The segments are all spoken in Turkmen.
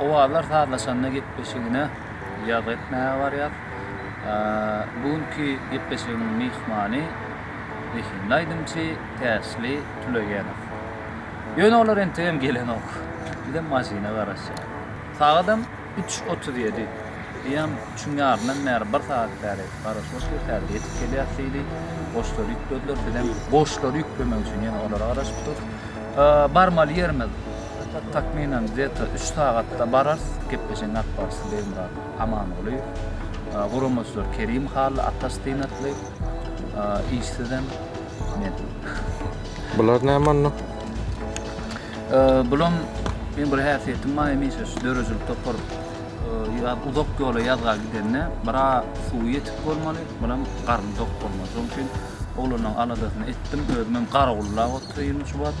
Owazlar sazlaşanda gepleşigine ýazgy etmäge barýar. Bu günki gepleşigiň myhmany zehinli aýdymçy Täşli Tülegenow. Ýöne olar entegem gelenok. Bizem maşyna garaşýarys. Sagadam üç otuz ýedi. Eýýäm üçüň ýaryndan bäri bir sagat bäri garaşylyp ýörüs, häzir ýetip gelýäris diýdi. Goşlary ýüklediler, bizem goşlary ýüklemek üçin ýene olara garaşyp durus. Barmaly ýerimiz. Takmynan gde-to üç sagatda bararys, gepleşigiň akbarsy Begmyrat Amangulyýew, guramaçylar Kerim Hally, Ataş Synatly, işsizem men. Bular näme onda? Bulam meň bir häsiýetim bar hemişe şu döredijilik topar uzak ýola ýazga gidende bira suwy ýetik bolmaly, biram garny dok bolmaly. Şonuň üçin oglanlaryň aladasyny etdim, özümem garawullap otyryn şu wagt.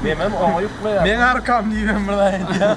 Memem oňa ýuklaýar. Meň arkam diýip hem bir zat aýdýar.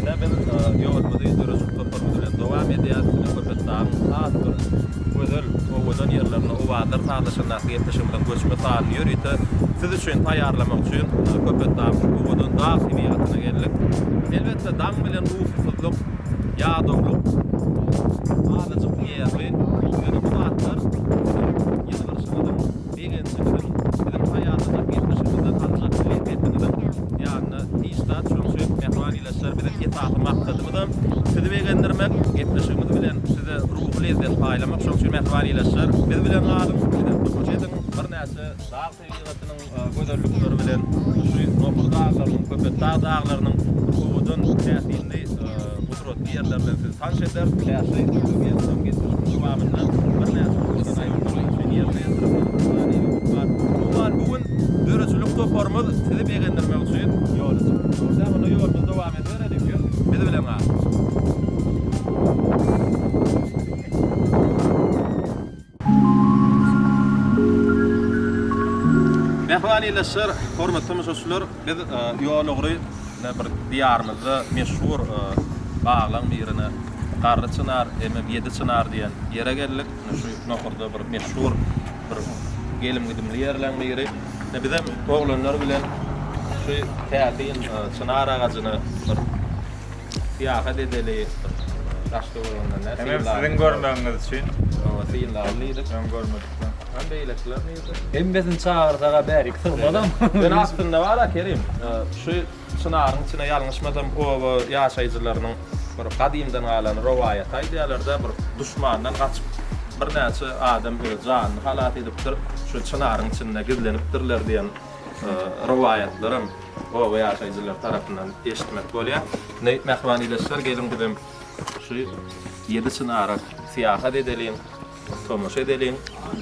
Ine biz ýolumyzy döredijilik toparymyz bilen dowam edýäris. Ine Köpetdagyň has bir gözel, owadan ýerlerine owazlar sazlaşandaky gepleşigimiziň göçme sanyny ýörite siz üçin taýýarlamak üçin Köpetdagyň owadan dag tebigatyna geldik. Elbetde daň bilen ukysyzlyk, ýadawlyk, azajyk nerwi, ýöne bu zatlar siziň ýylgyrşyňyzyň, Begenjimiziň, biziň haýatymyz geçmişimizden alynjak bilen Rebbiňiziň ýanyna hiç zat çüňşi mähwanileşer. Biziň esasy maksadymyzam sizi begendirmek. Gepleşigimiz bilen size ruhy lezzet paýlamak çüňşi mähwanileşer. Biz bilen galyň, bize tomaşa ediň. Birnäçe dag tebigatynyň gözellikleri bilen şu Nohur daglarynyň, Köpetdag daglarynyň owadan täsinli. Bu suratly ýerler bilen sizi tanyş eder. Täsli Türkmenistanyň geçmişiniň dowamynda birnäçe ugurdan aýratynlyk üçin ýerine ýetirilen ruhany ýurt bar. Umuman, bu gün döredijilik toparymyz sizi begendirmek üçin ýola çykdy. Dogrudanam, onda ýolumyzy dowam edibereliň we biz bilen galyň! Mähriban ildeşler, hormatly tomaşaçylar, biz ýol ugry ine bir diýarymyzda meşhur baglaň birine Garry çynar hemem Ýedi çynar diýen ýere geldik. Ine şu nohurda bir meşhur bir gelim-gidimli ýerleň biri. Ine bizem oglanlar bilen şu täsin çynar agajyny bir Syýahat edeli bir daşda görenden näme. Hemem siziň görmegiňiz üçin. Hawa synlagly diýdik. Öň görmedikden. Hany beýlekiler nirde? Hemmesini çagyrsaga bärik sygmazam. Ýöne aslynda bar-a Kerim. Şu çynaryň içine ýalňyşmasam oba ýaşaýjylarynyň bir gadymdan galan rowaýaty aýdýarlar-da, bir duşmandan gaçyp birnäçe adam öz janyny halas edipdir, şu çynaryň içinde gizlenipdirler diýen. rowaýatlaram oba ýaşaýjylary tarapyndan eşitmek bolýar. Indi mähriban ildeşler geliň bizem şu ýedi çynara syýahat edeliň, tomaşa edeliň.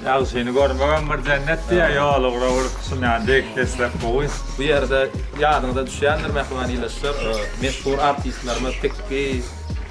Ýagşyny görmegem bir jennet diýýär, ýola ugra bolup düşünýän deslek gowy. Bu ýerde ýadyňyza düşýändir mähriban ildeşler, meşhur artistlerimiz Pekki,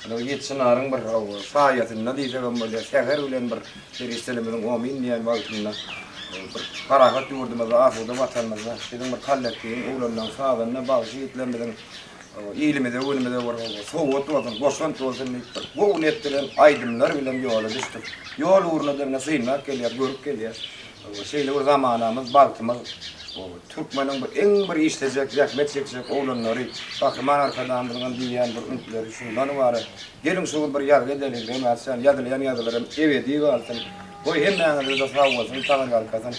Ýöne bu ýedi çynaryň bir saýasynda diýsek hem bolýar, säher bilen bir perişdelerimiziň omyn diýen wagtynda bir parahat ýurdumyzda, asuda Watanymyzda biziň bir kollektiwiň ugramynyň sazanda bagşy ýigitlerimiziň ilimize, günümize bir sowgat bolsun, goşant bolsun diýip, bir gowy net bilen aýdymlar bilen ýola düşdük. Ýol ugruna-da ine synlap gelýär, görüp gelýär. Şeýle bir zamanamyz, bagtymyz. Türkmeniň bu iň bir işlejek, zähmet çekjek oglanlary, Gahryman Arkadagymyzyňam diýýän bir üntleri şundan ybarat. Geliň şu gün bir ýazgy edeliň, Reňatjan, ýazylýan ýazgylaram ebedi galsyn. Goý hemmäňize-de sag bolsun, taňryýalkasyn.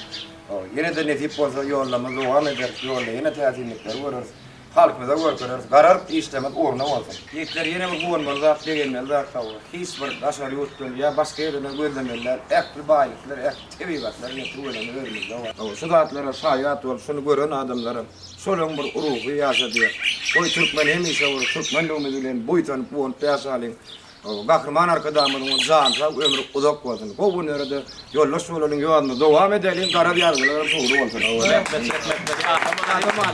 Ýene-de nesip bolsa ýollama dowam ederis, ýolda ýene täsinlikleri göreris. Halkymyza görkereris. Gararyp işleňiz ugruna bolsun. Ýigitler ýene bir guwanmaly zat begenmeli zat bar bu. Hiç bir daşary ýurtdan ýa başga ýerden gözlemeli däl. Ähli baýlyklar ähli tebigatlar ine tüweleme özümizde bar. Hawa şu zatlara şaýat bolup şuny gören adamlaram şolaň bir ruhy ýaşadýar. Goý türkmen hemişe bir türkmenligimiz bilen buýsanyp guwanyp ýaşalyň. Gahryman Arkadagymyzyň jany sag ömri uzak bolsun. Gowy günlerde ýoldaş bolalyň ýoluna dowam edeliň garaz ýazgylaram dogry bolsun. Rahmet rahmet Gahryman.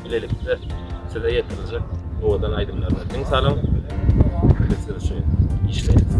bilelikde size ýetiriljek owadan aýdymlaryna diň salyň. Biz siz üçin işleýäris.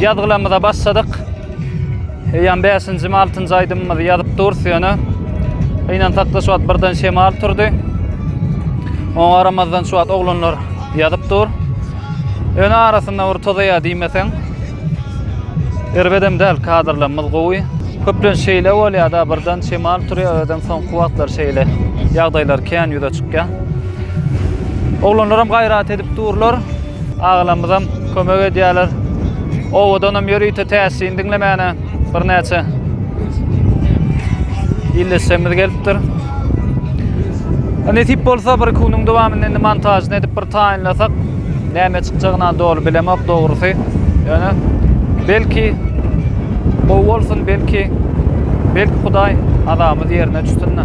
Ýazgylarymyza başladyk. Eýýäm bäşinjimi, altynjy aýdymymyzy ýazyp durus, ýöne gynansak-da şu wagt birden şemal turdy. Oňa garamazdan şu wagt oglanlar ýazyp dur. Ýöne arasynda bir tozaýar diýmeseň. Erbedem däl, kadrlarymyz gowy. Köplenç şeýle bolýar-da, birden şemal turýar, özem soňky wagtlar şeýle ýagdaýlar kän ýüze çykýar. Oglanlaram gaýrat edip durlar, agalarymyzam kömek edýärler. Owadanam ýörite täsin diňlemäne. birnäçe ildeşlerimiz gelipdir. Nesip bolsa bir kunyň dowamynda indi montažyny edip bir taýynlasak, näme çykjagyny doly bilemok dogrusy. Ýöne belki gowy bolsun, belki belki Hudaý azabymyz ýerine düşsün-de.